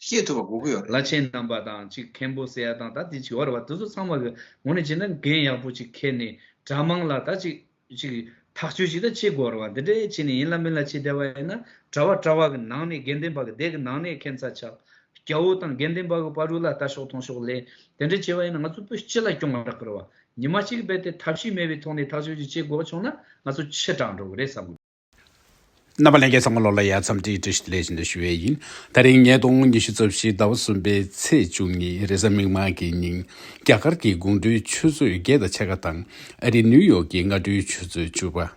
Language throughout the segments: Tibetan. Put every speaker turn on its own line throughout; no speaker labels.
ཤེས་ཐུབ་པ་དགོས་ཀྱི་ཡོད་རེད། བླ་ཆེན་རྣམ་པ་དང་
གཅིག་མཁན་པོ་ཟེར་ཡ་དང་ད་དེ་བྱི་བ་རེད་བ་དེ་ཚོ་ཚང་མ་གི་ངོ་ནས་བྱས་ན་འགན་ཡག་པོ་ཅིག་ཁྱེར་ནས་དྲ་དམངས་ལ་ད་གཅིག་གཅིག་ཐག་གཅོད་ཅིག་ད་བྱེད་དགོས་རེད་བ་འདི་འདྲའི་བྱས་ནས་ཡིན་ལ་མིན་ལ་བྱེད་བསྡད་བ་ཡིན་ན་དྲ་བ་དྲ་བ་གི་ནང་ནས་དགེ་འདུན་པ་གི་སྡེ་གི་ནང་ནས་མཁན་ཚ་ཆགས་རྒྱ་བོ་དང་དགེ་འདུན་པ་གི་བ་རུ་ལ་ལྟ་ཤོག་མཐོང་ཤོག་ལས་དེ་འདྲ་བྱས་བ་ཡིན་ན་ང་ཚོ་བོད་སྤྱི་ལ་སྐྱོང་བ་རག་གི་རེད་བ་ཉི་མ་གཅིག་གི་བེད་དེ་ཐབས་ཤེས་མེད་བའི་ཐོག་ནས་ཐག་གཅོད་ཅིག་བྱེད་དགོས་བ་བྱུང་ན་ང་ཚོ་ཕྱི་དྲག་འགྲོ་གི་རེད་བསམ་གི། རྣམ་
པ་ལན་བརྒྱད་ཚང་མ་ལོ་ལ་ཡར་འཚམས་འདྲིའི་བཀྲ་ཤིས་བདེ་ལེགས་ཞུ་འདོད་ཞུ་བས་ཡིན། ད་རིང་ཉིས་སྟོང་ཉི་ཤུ་རྩ་བཞི་ཟླ་བ་གསུམ་པའི་ཚེས་བཅུ་ཉིན་རེས་གཟའ་མིག་དམར་གྱི་ཉིན་རྒྱ་གར་གྱི་དགུང་སྒྲོལ་ཆུ་ཚོད་བརྒྱད་དང་ཕྱེད་ཀ་དང་ཨ་རི་ནིའུ་ཡོག་གི་སྔ་དྲོའི་ཆུ་ཚོད་བཅུ་པ།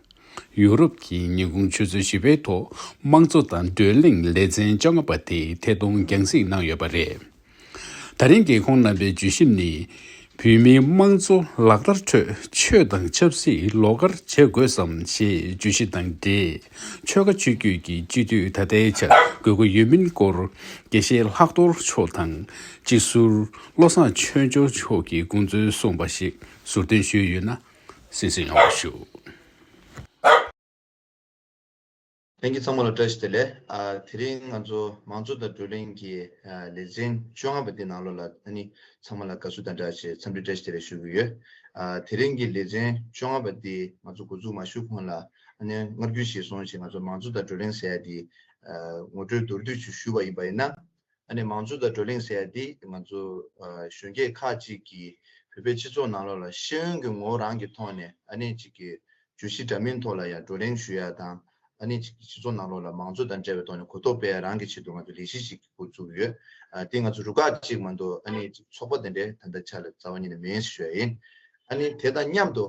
ཡུ་རོབ་ཀྱི་ཉིན་གུང་ཆུ་ཚོད་བཞི་པའི་ཐོག་དམངས་གཙོ་དང་བགྲོ་གླེང་ལེ་ཚན་བཅོ་ལྔ་པ་དེ་ཐད་གཏོང་རྒྱང་གཟིགས་གནང་ཡོད་པ་རེད། ད་རིང་རྒྱལ་ཁོངས་རྣམ་པའི་བརྗོད་གཞི་ནི། བོད་མིའི་དམངས་གཙོ་ལག་བསྟར་ཁྲོད་ཆོས་དང་ཆབ་སྲིད་ལོགས་བཀར་བྱེད་དགོས་སམ་ཞེས་བརྗོད་གཞི་དང་འབྲེལ་ཆོལ་ཁ་ཆོས་བརྒྱུད་ཀྱི་སྤྱི་འཐུས་ད་ལྟའི་ཆར་དགོས་མཁོ་ཡོད་མིན་སྐོར་དགེ་བཤེས་ལྷག་རྡོར་མཆོག་དང་སྤྱི་ཟུར་བློ་བཟང་ཆོས་འབྱོར་མཆོག་གིས་དགོངས་ཚུལ་གསུངས་པ་ཞིག་ཟུར་འདོན་ཞུས་ཡོད་ན་གསན་གསུང་ཡོང་བ་ཞུ།
ལྷན་རྒྱས་ཚང་མ་ལ་བཀྲ་ཤིས་བདེ་ལེགས། དེ་རིང་ང་ཚོ་མང་གཙོ་དང་བགྲོ་གླེང་གི་ལེ་ཚན་བཅོ་ལྔ་པ་འདི་ནང་ལོགས་ལ་ད་ནི་ཚང་མ་ལ་དགའ་བསུ་དང་སྦྲགས་ཆེད་འཚམས་འདྲི་བཀྲ་ཤིས་བདེ་ལེགས་ཞུ་གི་ཡོད། དེ་རིང་གི་ལེ་ཚན་བཅོ་ལྔ་པ་འདི་ང་ཚོ་འགོ་འཛུགས་མ་ཞུ་གོང་ལ་ཨ་ནེ་མངར་སྐྱུར་ཞིག་སོང་ཞེས་ང་ཚོ་མང་གཙོ་དང་བགྲོ་གླེང་ཟེར་ཡག་འདི་ངོ་སྤྲོད་མདོར་བསྡུས་ཞུ་བ་ཡིན་པ་ཡིན་ན། ཨ་ནེ་མང་གཙོ་དང་བགྲོ་གླེང་ཟེར་ཡ་འདི་ང་ཚོ་གཞོན་སྐྱེས་ཁག་ཅིག་གིས་བོད་པའི་སྤྱི་ཚོགས་ནང་ལོགས་ལ་ཤེས་ཡོན་གྱི་ངོ་རང་གི་ཐོག་ནས་ཨ་ནེ་ཅིག་གི་བརྗོད་གཞི་འདྲ་མིན་ཐོག་ལ་ཡང་བགྲོ་གླེང་ཞུ་ཡ་དང་ཨ་ནེ་ཅིག་གི་སྤྱི་ཚོགས་ནང་ལོགས་ལ་མང་གཙོ་དང་འབྲེལ་བའི་ཐོག་ནས་གོ་རྟོགས་སྤེལ་ཡ་རང་གི་ཆེད་དུ་ང་ཚོ་ལས་གཞི་ཞིག་གི་འགོ་བཙུགས་ཡོད། འདི་ང་ཚོ་རུ་ཁག་ཅིག་མ་འདུག་ཨ་ནེ་ཅིག་ཚོགས་པ་དེ་འདྲའི་ད་ལྟ་ཆ་ལ་རྩ་བ་ཉིད་ནས་མེད་ཞེས་ཞུ་ཡ་ཡིན། ཨ་ནེ་དེ་དང་མཉམ་དུ་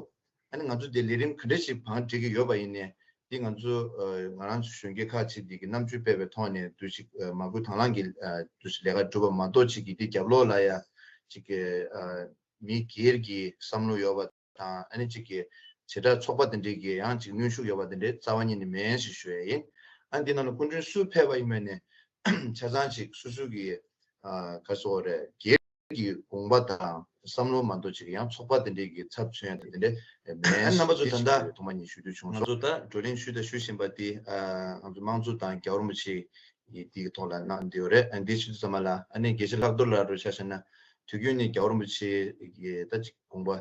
ཨ་ནི་ང་ཚོ་འདིར་ལས་རིམ་ག་འདྲ་ཞིག་བང་སྒྲིག་གི་ཡོད་པ་ཡིན་ནས་འདི་ང་ཚོ་ང་རང་ཚོ་གཞོན་སྐྱེས་ཁག་ཅིག་འདི་གི་རྣམ་དཔྱོད་སྤེལ་བའི་ཐོག་ནས་འདུ་ཤེས་མ་སྐུལ་དྭང་བླངས་ཀྱིས་འདུ་ཤེས་ལས་ཀ་སྒྲུབ་པ་མ་གཏོགས་ཅིག་གིས་འདི་རྒྱབ་ལོག་ལ་ཡང་ཅིག་གི་མི་སྒེར་གྱི་བསམ་བློ་ཡོད་པ་དང་ཨ་ནི་ཅིག་གི་བྱེ་བྲག་ཚོགས་པ་དེ་འདྲས་ཀྱི་ཡང་ཅིག་གནོན་ཤུགས་ཡོད་པ་དེ་འདྲའི་རྩ་བ་ཉིད་ནས་མེད་ཡན་ཞིག་ཞུ་ཡ་ཡིན། ཨ་ནི་འདི་རྣམས་ལ་སྐུ་མགྲོན་སུས་ཕེབས་པ་ཡིན་མིན་ནི་ཆ་ཚང་ཅིག་སུ་སུ་གི་ག་སོ་རེད་དགེ། ཀྱི་དགོངས་པ་དང་བསམ་བློ་མ་འདོར་ཕྱིར་ཡང་ཚོགས་པ་དེ་འབྲེལ་གྱི་ཚབ་མཚོན་དེ་འདྲས་མེད། རྣམ་པ་ཚོ་ད་ལྟ་ཐོག་མ་ཉིད་ཞུ་རྒྱུ་བྱུང་སོང། ང་ཚོ་ད་བགྲོ་གླེང་ཞུས་དང་ཞུ་བཞིན་པ་དེ་ང་ཚོ་དམངས་གཙོ་དང་རྒྱ་གར་མོ་ཆེ་ཡི་དེའི་ཐོག་ལ་གནང་འདི་ཡོད་རེད། འདི་ཕྱི་ཚུལ་ཚང་མ་ལ་ཨ་ནེ་དགེ་བཤེས་ལྷག་རྡོར་ལགས་རོགས་ཤ་བཤད་ན་དུས་རྒྱུན་ནས་རྒྱ་གར་མོ་ཆེ་ཡི་ད་ཅིག་དགོངས་པ་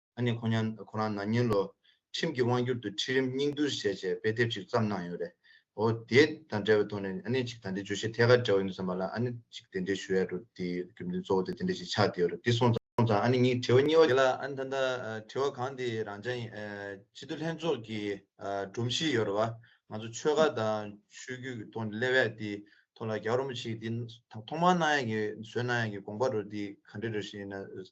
ཨ་ནི་ཁོང་ཉང་ཁོ་རང་ན་ཉིན་ལོ། ཁྲིམས་ཀྱི་དབང་སྒྱུར་དུ་ཁྲིད་རིམ་སྙིང་བསྡུར་བྱས་རྗེས་དཔེ་དེབ་ཅིག་བརྩམས་གནང་ཡོད་རེད། འོ་དེ་དང་འབྲེལ་བའི་ཐོག་ནས་ཨ་ནི་ཅིག་ད་འདི་བརྗོད་གཞི་ཐད་ཀར་འདྲ་བོ་ཡིན་འདུག་བསམ་པ་ལ་ཨ་ནི་ཅིག་དེ་འདྲའི་ཞུ་ཡ་འགྲོ་དེ་རྒྱུ་མཚན་གཙོ་བོ་དེ་དེ་འདྲ་ཞིག་ཆགས་བསྡད་ཡོད་རེད་འདི་སོང་ཙང་ཨ་ནི་གཉིས་དྲི་བ་གཉིས་བ་དེ་ལ་ཨ་ནི་ད་ལྟ་དྲི་བ་གང་དེ་རང་བྱ་ཡིན་སྤྱི་འཐུས་ལྷན་ཚོགས་ཀྱི་སྒྲོམ་གཞི་ཡོད་རེད་བ་ང་ཚོ་ཆོལ་ཁ་དང་ཆོས་བརྒྱུད་ཀྱི་ཐོག་ནས་སླེབས་ཡ་དེ་ཐོག་ལ་རྒྱ་གར་རོ་མོ་ཆིག་དེ་ཐོག་མར་གནང་ཡ་གི་བཟོས་གནང་ཡ་གི་དགོངས་པ་རོ་དེ་ག་འདྲ་རེད་ཞེ་ན།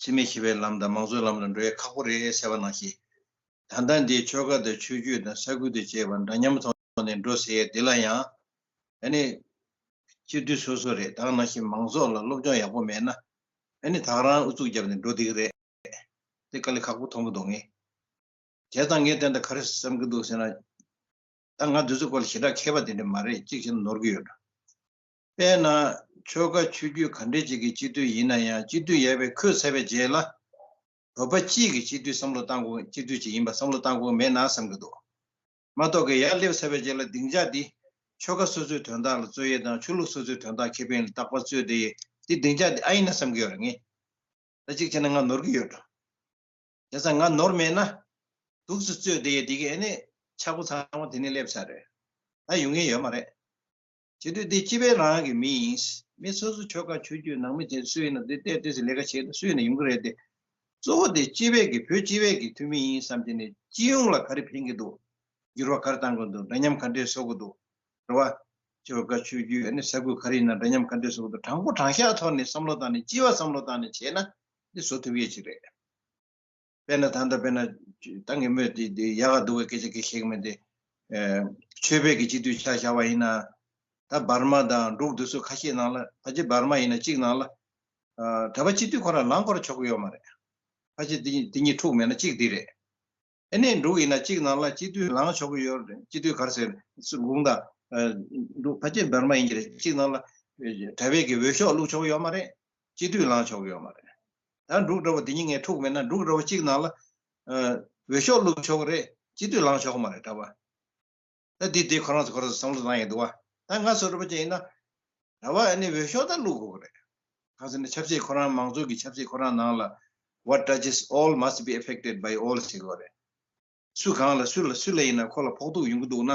འཆི་མེད་ཞི་བའི་ལམ་དང་མང་གཙོའི་ལམ་ལ་འགྲོ་ཡ་ཁག་པོ་རེད་ཟེར་བ་ནང་བཞིན། ད་ལྟ་འདིའི་ཆོལ་ཁ་དང་ཆོས་བརྒྱུད་དང་ས་ཁུལ་དང་བཅས་པ་འདྲ་མཉམ་ཐོག་ནས་འགྲོ་ཟེར་ཡ་འདི་ལ་ཡང། ཨ་ནི། སྤྱིར་དུས་སོ་སོ་རེད་ད་ནང་བཞིན་མང་ཚོགས་ལ་སློབ་སྦྱོང་ཡག་པོ་མེད་ན། ཨ་ནི་དག་རང་ཨུ་ཚུགས་བརྒྱབ་ནས་འགྲོ་བསྡད་ཀི་རེད། དེ་དཀའ་ལས་ཁག་པོ་མཐོང་གི་འདུག་ངས་དེ་དང་ངས་དེ་འདྲ་ག་རེ་བསམ་གི་འདུག་ཟེར་ན། ད་ང་དེ་ཚོའི་སྐོར་ལ་ཞེ་དྲག་མཁས་པ་དེ་འདྲ་མ་རེད་གཅིག་བྱས་ན་ནོར་གི་ཡོད་འདྲ། དཔེར་ན། ཆོལ་ཁ་ཆོས་བརྒྱུད་ག་འདྲའི་ཅིག་གི་སྤྱི་འཐུས་ཡིན་ན་ཡང་སྤྱི་འཐུས་ཡལ་བའི་ཁོད་ཚལ་བའི་རྗེས་ལ། བོད་པ་སྤྱིས་ཀྱི་སྤྱི་འཐུས་སམ་བློ་བཏང་ཁུངས་སྤྱི་འཐུས་ཅིག་ཡིན་པ་སམ་བློ་བཏང་ཁུངས་མེད་ན་བསམ་གྱི་འདུག་མ་གཏོགས་ཀྱི་ཡར་སླེབས་ཚར་བའི་རྗེས་ལ་སྡིངས་ཆ་འདི། ཆོལ་ཁ་སོ་སོའི་དོན་དག་ལ་རྩོད་ཡས་དང་ཆོས་ལུགས་སོ་སོའི་དོན་དག་ཁེ་ཕན་ལ་རྟག་པར་རྩོད་དེ་ཡས་དེ་སྡིངས་ཆ་འདི་ཨ་ཡིན་ན་བསམ་གྱི་ཡོད་རེད་ངེས། ད་ཅིག་བྱས་ན་ང་ནོར་གྱི་ཡོད་འགྲོ། དེ་ཚ་ང་ནོར་མེད་ན། དུག་སུ་རྩོད་དེ་ཡས་དེ་གི་ཨེ་ནས་ཆག་སྒོ་ཚང་མ་དེ་ནས་སླེབས་ཚར་རེད། ད་ཡོང་གིན་ཡོད་མ་རེད། བྱེད་དུས་དེ་སྤྱི་པའི་རང་དབང་གི་མི་ཡིན། མི་སོ་སོ་ཆོལ་ཁ་ཆོས་བརྒྱུད་ནང་མི་བྱེད་སུ་ཡིན་ན་དེ་ལྟའི་དུས་སུ་ལས་ཀ་བྱེད་དང་སུ་ཡིན་ན་ཡོང་གི་རེད་དེ། གཙོ་བོ་དེ་སྤྱི་བས་ཀྱི་བོད་སྤྱི་བས་ཀྱི་འཐུས་མི་ཡིན་བསམ་གྱི་ནས་སྤྱི་ཡོངས་ལ་ག་རེ་ཕན་གྱི་འདུག་འགྱུར་བ་ག་རེ་གཏང་གི་འདུག་འདྲ་མཉམ་ག་འདྲས་བཟོ་གི་འདུག་རེད་བ། ཆོལ་ཁ་ཆོས་བརྒྱུད་ཡ་ནི་ས་ཁུལ་ག་རེ་ཡིན་ན་འདྲ་མཉམ་ག་འདྲས་བཟོ་གི་འདུག་དྲང་པོ་དྲང་བཞག་ཐོག་ནས་བསམ་བློ་བཏང་ནས་སྤྱི་བ་བསམ་བློ་བཏང་ནས་བྱས་ན་དེ་བཟོ་ཐུབ་ཡས་ཅིག་རེད། དཔེར་ན་ད་ལྟ་དཔེར་ན་ཏང་གིས་སྨོས་ཏེ་འདི་ཡག་ག་འདུག་པའི་སྐད་ཆ་གི་ཤིག་མིན་ཏེ། ཆོས་བེད་ཀྱི་སྤྱི་འཐུས་ཆགས་བཞག་པ་ཡིན་ན། ད་འབར་མ་དང་འབྲུག་བདུད་སོགས་ཁ་ཤས་ནང་ལ་ཕ་ཆེ་འབར་མ་ཡིན་ན་གཅིག་ནང་ལ། གྲྭ་པ་སྤྱི་འཐུས་ཁོ་རང་ལངས་སྐོར་ཆོག་གི་ཡོད་མ་རེད། ཕ་ཆེ་དེ་གཉིས་འཁྲུག་མེད་ན་གཅིག་འདི་རེད། ཨེ་ནས་འབྲུག་ཡིན་ན་གཅིག་ནང་ལ་སྤྱི་འཐུས་ལངས་ཆོག་གི་ཡོད་རེད་སྤྱི་འཐུས་གར་ཟེར་དགུང་ད། འབྲུག་ཕ་ཆེ་འབར་མ་ཡིན་གྱི་རེད་གཅིག་ནང་ལ། གྲྭ་བེད་ཀྱི་འོས་ཤོག་བླུག་ཆོག་གི་ཡོད་མ་རེད། སྤྱི་འཐུས་ལངས་ཆོག་གི་ཡོད་མ་རེད། ད་འབྲུག་སྒྲ་པོ་འདི་གཉིས་ངས་འཁྲུག་མེད་ན་འབྲུག་སྒྲ་པོ་གཅིག་ནང་ལ་འོས་ཤོག་བླུག་ཆོག་གི་རེད་སྤྱི་འཐུས་ལངས་ཆོག་མ་རེད་འདྲ་པར་ད་འདི་འདི་ཁོ་རང་ཚོ་ཁོ་རང་ཚོ་བསམ་བློ་བཏང་ཡོད་འདུག་བ་ད་ང་ཚོ་འདྲ་པོ་ཅན་ཡིན་ན་འདྲ་པར་ཨ་ནི་འོས་ཤོག་ད་བླུག་དགོས་གི་རེད་གང་ཟེར་ན་ཆབ་སྲིད་ཁོ་རང་མང་གཙོ་གི་ཆབ་སྲིད་ཁོ་རང་ནང་ལ what touches all must be affected by all ཟེར་གི་རེད། སུ་གང་ལ་སུ་ལ་སུ་ལ་ཡིན་ན་ཁོ་ལ་ཕོག་ཐུག་ཡོང་གི་འདུག་ན།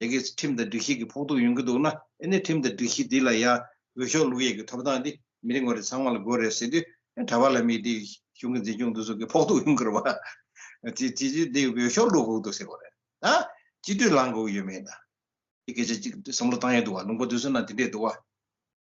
དེ་གས་ཁྲིམས་དང་སྒྲིག་གཞི་གི་ཕོག་ཐུག་ཡོང་གི་འདུག་ན་ཨེ་ནས་ཁྲིམས་དང་སྒྲིག་གཞི་འདི་ལ་ཡང་འོས་ཤོག་བླུག་ཡས་ཀྱི་ཐོབ་ཐང་འདི་མི་རེ་ངོ་རེ་ཚང་མ་ལ་དགོས་རེད་ཟེར་དུས་གྲྭ་པ་ལ་མི་དེ་གཞུང་གི་འཛིན་སྐྱོང་འདུ་ཚོགས་ཀྱི་ཕོག་ཐུག་ཡོང་གི་རེད་བ། དེ་དེ་དུས་འདི་འོས་ཤོག་བླུག་དགོས་གི་འདུག་ཟེར་གོ་རེད་ད། སྤྱི་འཐུས་ལངས་དགོས་གི་ཡོད་མེད་ད། དེ་སྐད་ཆ་གཅིག་བསམ་བློ་བཏང་ཡས་འདུག་བ་ལུང་པ་འདུ་ཚོགས་ནང་དེ་འདྲས་འདུག་བ།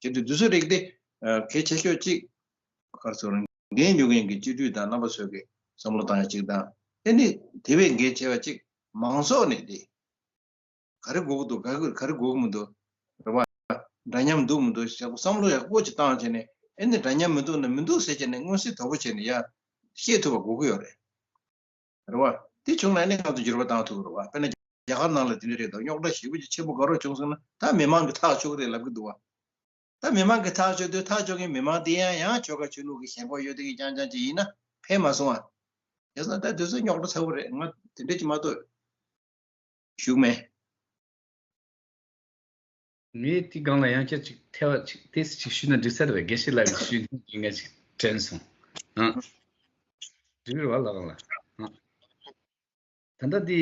གཅིག་ཏུ་འདུས་སོ་རིགས་ཏེ། གལ་ཆེ་ཤོས་གཅིག། ཁར་སོ་རང་འགན་ཉོ་མཁན་གྱི་སྤྱི་འཐུས་དང་རྣམ་པ་ཚོས་ཀྱི་བསམ་བློ་བཏང་ཡ་གཅིག་དང། དེ་ནི་དེ་བས་འགན་ཆེ་བ་གཅིག་མང་ཚོགས་ནས་དེ། ག་རེ་འགོག་འདུག་ག་རེ་འགོག་མི་འདུག། རེ་བ། འདྲ་མཉམ་འདུག་མི་འདུག་ཞེས་བསམ་བློ་ཡག་པོ་གཅིག་བཏང་བྱས་ནས་ཨེ་ནི་འདྲ་མཉམ་མི་འདུག་ན་མི་འདུག་ཟེར་བྱས་ནས་མངོན་གསལ་དོད་པོ་བྱས་ནས་ཡ། ཤེས་ཐུབ་པ་འགོག་གི་ཡོད་རེད། རེད་བ། དེ་བྱུང་ན་ནི་ཁག་ཏུ་འགྱུར་བ་གཏང་ཐུབ་པ་རེད་བ། དཔེར་ན། རྒྱ་གར་ནང་ལ་དེ་འདྲའི་རེད་དོ་རྙོག་དྲ་ཞེ་བོ་ཅིག་ཆེན་པོ་དགའ་རོགས་བྱུང་སོང་ན་ད་མི་མང་གི་ཐག་གཅོག་རེད་ལབ་གི་འདུག་བ། ད་མི་མང་གི་ཐག་གཅོག་དུས་ཐག་གཅོག་མཁན་མི་མང་དེ་ཡང་ཡང་ཆོལ་ཁ་ཆོས་ལུགས་ཀྱི་ཞེན་ཁོག་ཡོད་དོན་གྱི་རྐྱང་རྐྱང་ཅིག་ཡིན་ན་ཕན་མ་སོང་བ། རྒྱལ་ས་ད་དུས་ཚོད་རྙོག་དྲ་ཚ་བོ་རེད་ང་དེ་འདྲ་ཅིག་མ་གཏོགས། ཞུགས་མེད།
ངས་དེའི་སྒང་ལ་ཡང་བསྐྱར་ཅིག་ཐལ་བ་ཅིག་ཏེ་ཅིག་ཞུས་ན་འགྲིག་ས་རེད་དགེ་བཤེས་ལགས་ཀྱི་ཞུས་ནས་ངས་ཅིག་དྲན་སོང། འགྲིག་རེད་བ་ལགས་ལ། ད་ལྟ་དེ།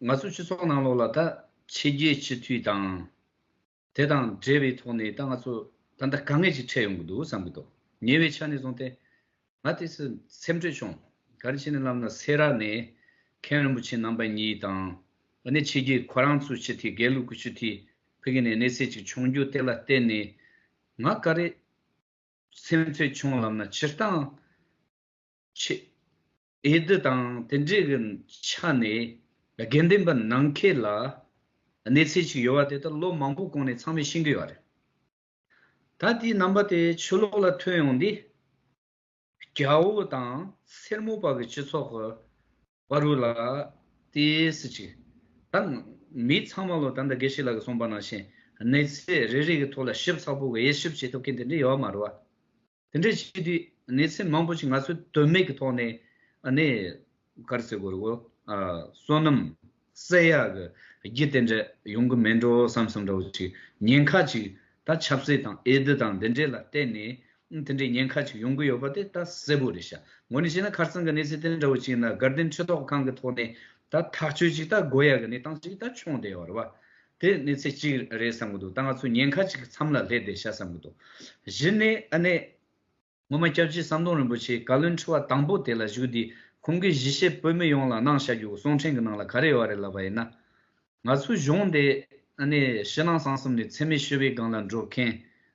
ང་ཚོ་སྤྱི་ཚོགས་ནང་ལོགས་ལ་ད་ཕྱི་རྒྱལ་སྤྱི་འཐུས་དང། དེ་དང་འབྲེལ་བའི་ཐོག་ནས་ད་ང་ཚོ་ད་ལྟ་དཀའ་ངལ་ཞིག་འཕྲད་ཡོང་གི་འདུག་བསམ་གྱི་འདུག་ཉེ་བའི་ཆ་ནས་བཟུང་སྟེ། ང་དེ་ཚོས་སེམས་ཁྲལ་བྱུང། ག་རེ་བྱས་ནས་ལབ་ན་སེ་ར་ནས་མཁན་རིན་པོ་ཆེ་རྣམ་པ་གཉིས་དང། ཨ་ནེ་ཆེ་གེ་ཁོ་རང་ཚོའི་སྤྱི་འཐུས་དགེ་ལུགས་ཀྱི་སྤྱི་འཐུས་ཕུད་ཀྱི་ནས་གནས་ཚད་ཅིག་བྱུང་རྒྱུ་དེ་ལ་བརྟེན་ནས། ང་ག་རེ་སེམས་ཁྲལ་བྱུང་ལབ་ན་སྤྱིར་བཏང། ཆེད་འོས་བསྡུ་དང་དེ་འབྲེལ་གྱི་ཆ་ནས་དགེ་འདུན་པ་ནང་མཁས་ལ་གནས་ཚད་ཅིག་ཡོད་པ་དེ་དག་ལོ་མང་པོ་གོང་ནས་ཚང་མས་ཤེས་ཀྱི་ཡོད་རེད། ད་ལྟའི་རྣམ་པ་དེ་ཆོས་ལོག་ལ་ཐོན་ཡོང་དུས། རྒྱ་བོ་དང་སེར་མོ་བར་གྱི་སྤྱི་ཚོགས་ཀྱི་བར་རུ་ལ་ཏིས་ཅིག་ད་མི་ཚང་མ་ལོ་ད་ལྟ་དགེ་ཤེས་ལགས་ཀྱི་གསུངས་པ་ནང་བཞིན་གནས་ཚད་རེ་རེ་ཀྱི་ཐོག་ལ་ཞིབ་ཚགས་པོ་དབྱེ་ཞིབ་བྱེད་ཐུབ་མཁན་དེ་འདྲ་ཡོད་མ་རེད། དེ་འདྲ་བྱེད་དུས་ནས་ཚེ་མང་པོ་ཞིག་ང་ཚོས་དོན་མེད་ཀྱི་ཐོག་ནས་ནས། གར་སའི་སྒོར་གོ། བསོད་ནམས་བསད་ཡག་གི་རྒྱུ་དེ་འདྲ་ཡོང་གི་མེད་འགྲོ་བསམ་བསམ་འདྲ་བོ་ཞིག་ཉེན་ཁ་ཅིག་ད་ཆབ་སྲིད་དང་ཨེ་ཟླི་དང་འདི་འདྲས་ལ་བརྟེན་ནས་དེ་འདྲའི་ཉེན་ཁ་ཅིག་ཡོང་གི་ཡོད་པ་དེ་ད་གསལ་པོ་རེད་ཤག་ངོ་ནས་བཤད་ན་ཁར་སང་གི་གནས་ཚུལ་དེ་འདྲ་བོ་ཅིག་ཡིན་ན་དགའ་ལྡན་ཆོས་ཐོག་ཁང་གི་ཐོག་ནས་ད་ཐག་གཅོད་ཅིག་ད་དགོས་ཡག་གི་གནས་སྟངས་ཅིག་ད་ཆོངས་བསྡད་ཡོད་རེད་བ། དེ་ནི་ཚེ་གཅིག་རེད་བསམ་གྱི་འདུག་ད་ང་ཚོས་ཉེན་ཁ་གཅིག་གི་མཚམས་ལ་སླེབས་ཏེ་ཤ་བསམ་གྱི་འདུག་བཞི་ནི་ཨ་ནེ། ངོ་མ་སྐྱབས་རྗེ་ཟམ་གདོང་རིན་པོ་ཆེའི་བཀའ་བློན་ཁྲི་བ་དང་པོ་དེ་ལ་བཞུགས་དུས་ཁོང་གིས་གཞིས་བྱེས་བོད་མི་ཡོངས་ལ་གནང་བཞག་རྒྱུ་གསུང་འཕྲིན་གྱི་ནང་ལ་ག་རེ་ཡོད་རེད་ལབ་པ་ཡིན་ན། ང་ཚོའི་གཞུང་འདི་ཨ་ནེ་ཕྱི་ནང་གསང་གསུམ་ནས་འཚེ་མེད་ཞི་བའི་སྒང་ལ་འགྲོ་མཁན་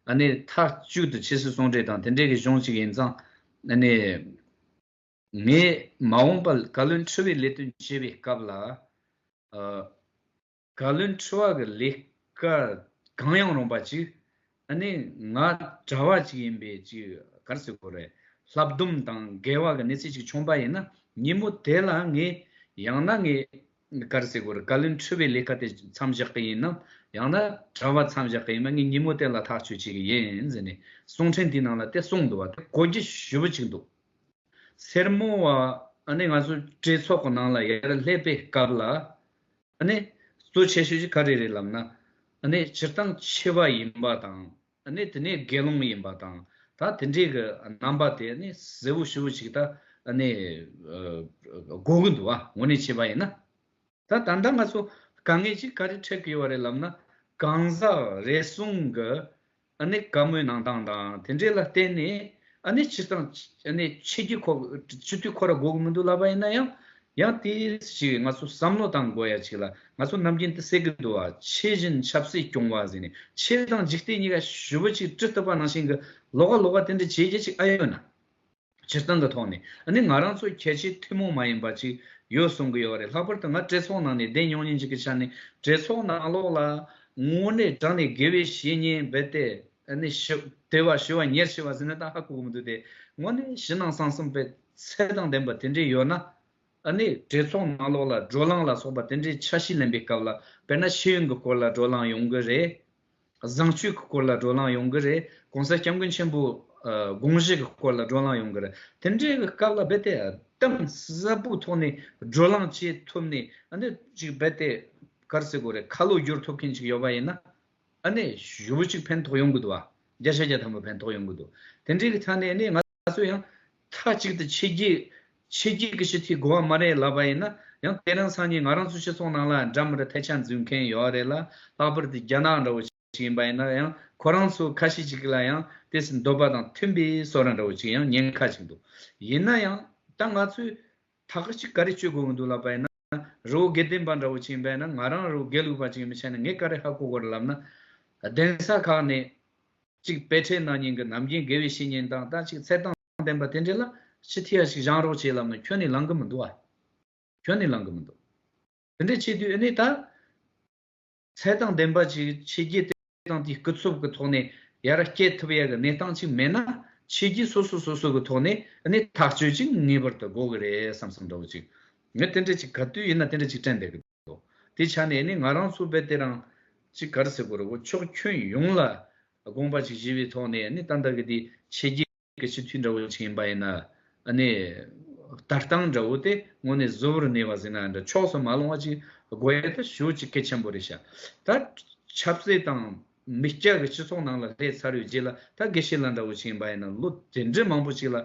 ཨ་ནེ་མཐའ་གཅིག་ཏུ་ཕྱི་སྲིད་ཟུང་འབྲེལ་དང་དེ་འབྲེལ་གྱི་གཞུང་གཅིག་ཡིན་ཙང་ཨ་ནེ། ངས་མ་འོངས་པར་བཀའ་བློན་ཁྲི་བའི་ལས་དོན་བྱེད་པའི་སྐབས་ལ། བཀའ་བློན་ཁྲི་བ་གི་ལས་ཀ་གང་ཡང་རུང་བ་ཅིག་ཨ་ནི་ང་གྲྭ་བ་ཅིག་ཡིན་པས་ཅིག་གར་སི་ཁོ་རེ་ལྷ་བསྡོམས་དང་འགལ་བ་གི་གནས་ཚུལ་ཅིག་བྱུང་པ་ཡིན་ན་ཉིན་མོ་དེ་ལ་ངས་ཡང་ན་ངས་གར་སི་ཁོ་རེ་བཀའ་བློན་ཁྲི་བའི་ལས་ཀ་དེ་མཚམས་བཞག་གི་ཡིན་ནམ་ཡང་ན་གྲྭ་བ་མཚམས་བཞག་གི་ཡིན་པ་ངས་ཉིན་མོ་དེ་ལ་ཐག་གཅོད་བྱེད་ཀྱི་ཡིན་ཟེར་ནས་གསུང་འཕྲིན་དེའི་ནང་ལ་དེ་གསུངས་འདུག་བ་དེ་གོ་རྒྱུ་ཞུ་བ་ཅིག་འདུག་སེར་མོ་བ་ཨ་ནི་ང་ཚོ་གྲོས་ཚོགས་གི་ནང་ལ་ཡར་སླེབས་པའི་སྐབས་ལ་གཙོ་ཆེ་ཤོས་ཀྱི་ཁ་རེ་རེ་ལབ་ན། སྤྱིར་བཏང་ཆེ་བ་ཡིན་པ་དང། དེ་ནས་དགེ་སློང་ཡིན་པ་དང། ད་དེ་འདྲའི་གི་རྣམ་པ་དེ་གཟེར་བུ་ཧྲིལ་བུ་ཞིག་ད་གོ་གི་འདུག་ངོ་ནས་བྱས་པ་ཡིན་ན། ད་ད་ལྟ་ང་ཚོ་དཀའ་ངལ་ཅིག་ག་རེ་འཕྲད་གི་ཡོད་རེད་ལབ་ན། གང་ཟག་རེ་ཟུང་གི་ཨ་ནེ་བཀའ་མོལ་གནང་སྟངས་དང་དེ་འབྲེལ་ལ་བརྟེན་ནས་ཨ་ནེ་ཕྱིར་འདང་ཆེ་རྒྱུ་ཁོ་སྤྱི་འཐུས་ཁོ་ར་དགོས་ཀྱི་མི་འདུག་ལབ་པ་ཡིན་ན་ཡང་ཡང་དེ་ཞིག་ང་ཚོ་བསམ་བློ་བཏང་དགོས་ཡ་གཅིག་ལ་ང་ཚོ་ནམ་རྒྱུན་དེ་བསད་ཀྱི་འདུག་བ་ཕྱི་བཞིན་ཆབ་སྲིད་སྐྱོང་བ་ཟེར་ནས་ཕྱི་དང་འཇིག་རྟེན་གཉིས་ཀ་ཞུ་བ་ཅིག་བཀྲི་ཐུབ་པ་ནང་བཞིན་གྱི་ལོག་ཀ་ལོག་ཀ་དེ་འདྲ་བྱེད་རྒྱ་ཅིག་ཨ་ཡོད་ན། སྤྱིར་བཏང་གི་ཐོག་ནས་ནི་ང་རང་ཚོ་ཁྱད་ཆེ་ཐུན་མོང་མ་ཡིན་པ་ཅིག་ཡོད་གསུང་གི་ཡོད་པ་རེད་ལྷག་པར་དུ་ང་བཀྲས་ཚོགས་ནང་ནས་བསྡད་མྱོང་ཉིན་གཅིག་གི་ཆ་ནས་བཀྲས་ཚོགས་ནང་ལོགས་ལ་དངོས་གནས་དྲང་ནས་དགེ་བའི་བཤེས་གཉེན་རྦད་དེ་ནི་ཞི་དེ་བ་ཞི་བ་ཉེར་ཞི་བ་ཟེར་ནས་ད་ཧ་གོ་གི་མི་འདུག་དེ་དངོས་གནས་ཞི་སྣང་གསང་གསུམ་པའི་ཚད་དང་ལྡན་པ་དེ་འདྲས་ཡོད་ན་ནི་བཀྲས་ཚོགས་ནང་ལོགས་ལ་བགྲོ་གླང་ལ་སོགས་པ་དེ་འདྲས་ཆ་ཤས་ལེན་པའི་སྐབས་ལ་དཔེར་ན་ཤེས་ཡོན་གི་སྐོར་ལ་བགྲོ་གླང་ཡོང་གི་རེད། བཟང་སྤྱོད་ཀྱི་སྐོར་ལ་བགྲོ་གླང་ཡོང་གི་རེད་གོང་ས་སྐྱབས་མགོན་ཆེན་པོའི་དགོངས་བཞེད་ཀྱི་སྐོར་ལ་བགྲོ་གླང་ཡོང་གི་རེད་དེ་འདྲའི་སྐབས་ལ་རྦད་དེ་གཏམ་གསལ་པོའི་ཐོག་ནས་བགྲོ་གླང་བྱེད་ཐུབ་ནས་འདི་ཅིག་རྦད་དེ་གར་སེ་གོ་རེ་ཁ་ལོ་བསྒྱུར་ཐུབ་མཁན་ཅིག་ཡོད་པ་ཡིན་ན། ཞུ་བོ་ཅིག་ཕན་ཐོགས་ཡོང་གི་འདུག་བརྒྱ་ཆ་བརྒྱ་ཐམ་པ་ཕན་ཐོགས་ཡོང་གི་འདུག་དེ་འདྲའི་ཐ་ནས་ནི་ང། ད་གཟོད་ཡང་མཐའ་གཅིག་ཏུ་ཆེ་རྒྱུས་ཀྱི་ཞི་འཐུས་དགོས་བ་མ་རེད་ལབ་པ་ཡིན་ན་ཡང་དེ་རིང་སང་ཉིན་ང་རང་ཚོ་སྤྱི་ཚོགས་ནང་ལ་འདྲ་མི་འདྲ་ཐལ་ཆ་འཛུལ་མཁན་ཡོད་རེད་ལ་ལྷག་པར་དུ་རྒྱ་ནག་འདྲ་བོ་ཞིག་ཡིན་པ་ཡིན་ན་ཡང་ཁོ་རང་ཚོ་ཁ་ཤས་ཅིག་ལ་ཡང་དེ་སྲིད་འདོད་པ་དང་མཐུན་པའི་སོ་ར་འདྲ་བོ་ཅིག་ཡང་ཉན་ཁ་ཅིག་འདུག་ཡིན་ན་ཡང་ད་ང་ཚོས་ཐག་གཅིག་ག་རེ་གཅོད་དགོས་ཀྱི་འདུག་ལབ་པ་ཡིན་ན། རི་བོ་དགེ་ལྡན་པ་འདྲ་བོ་ཅིག་འབད་ན་ང་རང་རི་བོ་དགེ་ལུགས་པ་ཅིག་མི་བྱེད་ན་ངས་ཀ་རེ་ཧ་གོ་གོ་རེ་ལབ་ན། གདན་ས་ཁག་ནས་ཅིག་དཔེ་ཁྲལ་གནང་ཉིན་གྱི་ནམ་རྒྱུན་དགེ་བའི་བཤེས་གཉེན་དང་ད་ཅིག་ཚད་སྟངས་ལྡན་པ་དེ་འདྲས་ལ་ཕྱི་ཐི་ཡ་ཞིག་བཞང་རོགས་བྱེད་ལབ་ན་ཁྱོད་ནི་ལང་གི་མི་འདུག་ཨ། ཁྱོད་ནི་ལང་གི་མི་འདུག། དེ་འདྲས་བྱེད་དུས་ཨེ་ནས་ད། ཚད་དང་ལྡན་པ་ཅིག་ཕྱི་རྒྱལ་དེ་དང་དེའི་སྐུ་འཚོབ་ཀྱི་ཐོག་ནས་ཡར་བསྐྱེད་ཐུབ་ཡ་གི་གནས་སྟངས་ཅིག་མེད་ན་ཕྱི་རྒྱལ་སོ་སོ་སོ་སོ་གི་ཐོག་ནས་ནི་ཐག་གཅོད་ཅིག་ངེས་པར་དུ་དགོས་གི་རེད་བསམ་བསམ་འདྲ་བོ་ཅིག་ངས་དེ་འདྲ་ཅིག་ག་དུས་ཡིན་ན་དེ་འདྲ་ཅིག་དྲན་བསྡད་གི་འདུག་དེའི་ཆ་ནས་ནི་ང་རང་ཚོ་བལ་དེ་རང་ཅིག་ག་རེ་ཟེར་དགོས་ར་བོ་ཕྱོགས་ཁྱོན་ཡོངས་ལ་དགོངས་པ་ཅིག་བཞེས་པའི་ཐོག་ནས་ནི་ཏན་ཏན་གི་དེ་ཕྱི་རྒྱལ། གི་སྤྱི་འཐུས་འདྲ་བོ་ཞིག་ཡིན་པ་ཡིན་ན་ནི། ལྟ་སྟངས་འདྲ་བོ་དེ་དངོས་གནས་གཟུ་བོར་གནས་པ་ཟིན་ན་འདྲ་ཕྱོགས་སུ་མ་ལོང་བ་ཅིག་དགོས་ཡས་དུ་ཞུ་ཅིག་གལ་ཆེན་པོ་རེད་ཤག་ད། ཆབ་སྲིད་དང། མི་སྐྱ་གི་སྤྱི་ཚོགས་ནང་ལ་སླེབས་ཚར་ཡོད་རྗེས་ལ་ད་དགེ་བཤེས་ལ་འདྲ་བོ་ཞིག་ཡིན་པ་ཡིན་ན་ལོ་དེ་འདྲའི་མང་པོ་ཞིག་ལ།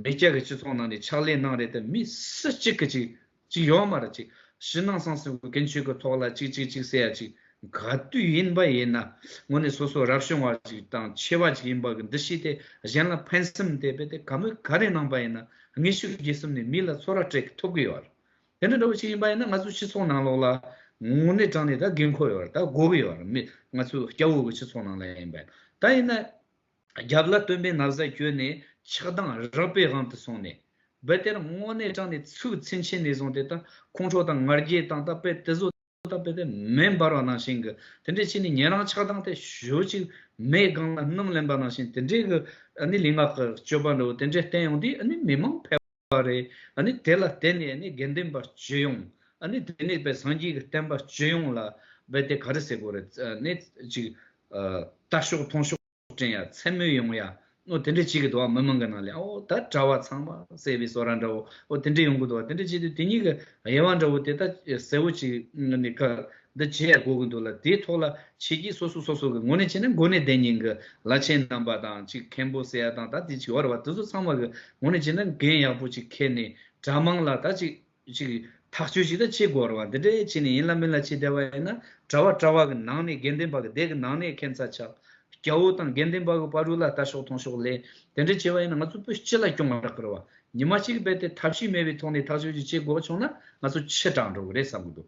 མི་སྐྱ་གི་སྤྱི་ཚོགས་ནང་ནས་ཕྱག་ལས་གནང་རེད་དེ་མི་སུ་གཅིག་གིས་ཅིག་གཅིག་ཡོག་མ་ར་གཅིག་ཕྱི་ནང་གསང་སེ་བུ་གན་ཆོས་ཀི་ཐོག་ལ་གཅིག་གཅིག་གཅིག་སེ་ཡ་གཅིག་ག་དུས་ཡིན་པ་ཡིན་ན་ངོ་ནི་སོ་སོ་རབ་བྱུང་བ་གཅིག་དང་ཆེ་བ་གཅིག་ཡིན་པ་གི་འདི་ཤི་སྟེ་གཞན་ལ་ཕན་སེམས་མི་དད་པས་དེ་ག་མོས་ག་རེ་གནང་པ་ཡིན་ན་ངེས་ཤུགས་རྒྱས་གསུམ་ནས་མི་ལ་ཚོ་ར་སྤྲད་གི་ཐོབ་གི་ཡོག་ར་དེ་འདྲ་འདྲ་བོ་གཅིག་ཡིན་པ་ཡིན་ན་ང་ཚོ་སྤྱི་ཚོགས་ནང་ལོག་ལ་ངོ་ནི་དྲང་ནི་ད་དགེ་མཁོ་ཡོག་ར་ད་དགོ་གི་ཡོག་ར་མི་ང་ཚོ་སྐྱ་བོ་གི་སྤྱི་ཚོགས་ནང་ལ་ཡིན་པ་ཡིན་ན་ད་ཡིན་ན་རྒྱབ་ལ་སྟོན་པའི་ན་བཟའ་བསྐྱོན་ནས་ཆགས་སྡང་རགས་པའི་དབང་དུ་སོང་ནས། དཔེ་དེར་དངོས་གནས་དྲངས་ནས་ཚུལ་མཚན་ཆེན་ནས་བཟུང་སྟེ་ད་ཁོང་ཁྲོ་དང་ངར་རྒྱས་དང་ད་དཔེ་དེ་བཟོ་ད་དཔེ་དེ་མེ་འབར་བ་ནང་བཞིན་གྱི་དེ་འདྲའི་ཕྱིན་ནས་ཉན་རང་ཆགས་སྡང་དེ་ཞོ་གཅིག་མེའི་སྒང་ལ་སྣུམ་ལེན་པ་ནང་བཞིན་དེ་འདྲའི་གི་ནི་ལུས་ངག་གི་སྤྱོད་པ་འདྲ་བོ་དེ་འདྲའི་བསྟན་ཡོང་དུས་ནི་མི་མང་ཕལ་པ་རེད། ནི་དེ་ལ་བརྟེན་ནས་ནི་དགེ་འདུན་པ་སྤྱོད་ཡོང། ནི་དེ་ནས་པའི་སངས་རྒྱས་ཀྱི་བསྟན་པ་སྤྱོད་ཡོང་ལ་བས་དེ་ག་རེ་ཟེར་དགོས་རེད། ནི་ཅིག། ལྟ་ཤོག་མཐོང་ཤོག་དྲན་ཡ་མཚན་མོ་ཡོང་ཡ། ནོ་དེ་འདྲ་བྱེད་གི་འདུག་ཨ་མི་མང་གི་ནང་ལས་ཨོ་ད་གྲྭ་བ་ཚང་མ་གསལ་བའི་སོ་ར་འདྲ་བོ་ཨོ་དེ་འདྲ་ཡོང་གི་འདུག་དེ་འདྲ་བྱེད་དུས་དེ་གཉིས་ཀྱི་དབྱེ་བ་འདྲ་བོ་དེ་ད་གསལ་བོ་ཅིག་ནི་ག་འདི་བྱས་དགོས་ཀྱི་འདུག་ལ་དེའི་ཐོག་ལ་བྱེད་ཀྱི་སོ་སོ་སོ་སོ་གི་ངོ་ནས་བྱས་ན་འགོ་ནས་བདེན་གཉིས་ཀྱི་ལ་ཆེན་རྣམ་པ་དང་གཅིག་མཁན་པོ་སེ་ཡ་དང་ད་དེ་བྱི་བ་ར་བ་དེ་ཚོ་ཚང་མ་གི་ངོ་ནས་བྱས་ན་འགན་ཡག་པོ་ཅིག་འཁྱེར་ནས་གྲ་དམངས་ལ་ད་གཅིག་གཅིག་ཐག་གཅོད་ཅིག་ད་བྱེད་དགོས་ར་བ་འདི་འདྲའི་བྱས་ནས་ཡིན་ལ་མིན་ལ་བྱེད་བསྡད་པ་ཡིན་ན་གྲ་བ་གྲ་བ་གི་ནང་ནས་དགེ་འདུན་པ་གི་སྡེ་གི་ནང་ནས་མཁན་ཚ་ཆགས་རྒྱ་བོ་དང་དགེ་འདུན་པ་གི་པ་རུ་ལ་ལྟ་ཤོག་ཐོང་ཤོག་ལས་དེ་འདྲ་བྱས་པ་ཡིན་ན་ང་ཚོ་བོད་སྤྱི་ལ་སྐྱོང་བ་རག་གི་ར་བ་ཉི་མ་གཅིག་གི་བེད་དེ་ཐབས་ཤེས་མེད་པའི་ཐོག་ནས་ཐག་གཅོད་ཅིག་བྱེད་དགོས་པ་བྱུང་ན་ང་ཚོ་ཕྱི་དྲག་འགྲོ་གི་རེད་བསམ་གྱི་འདུག